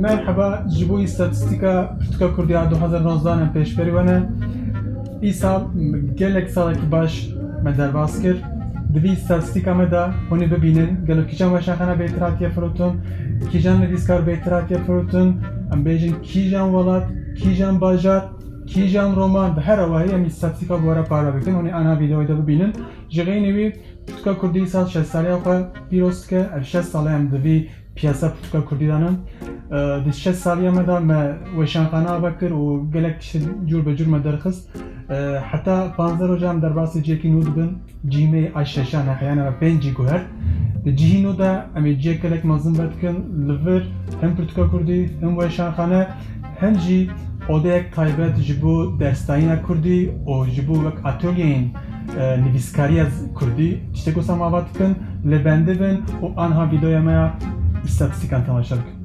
Merheba ji bo îstatîstîka Pirtûka Kurdî ya du hezar û nozda ne pêşberî we ne. Îsal gelek salekî baş me derbas kir. Di vî îstatîstîka me de hûnê bibînin gelo kîjan weşaxana bêtir hatiye firotin, kîjan nivîskar bêtir hatiye firotin, em bêjin kîjan welat, kîjan bajar, kîjan roman bi her awayî em îstatîstîka bi we re parve dikin. Hûnê ana vîdeoyê de bibînin. Ji xeynî wî Pirtûka Kurdî sal şeş saliya xwe pîroz dike. Ev şeş sal e em di vî piyasa pirtûka Kurdî de ne. Di şeş saliya me de me weşanxane ava kir û gelek tişt cûr be cûr me derxist. Heta panzdeh roja em derbasî cihekî nû dibin. Cihî me yê a şeşan e heyane me pêncî guhert. Di cihî nû de em ê cihek gelek mezin vedikin. Li vir hin pirtûka Kurdî, hin weşanxane. Hin jî odeyek taybet ji bo dersdayîna kurdî û ji bo wek atölyeyên nivîskariya kurdî tiştek wisa me ava dikin. Lê bendibin û anha vîdeoya me ya îstatîstîkan temaşe bikin.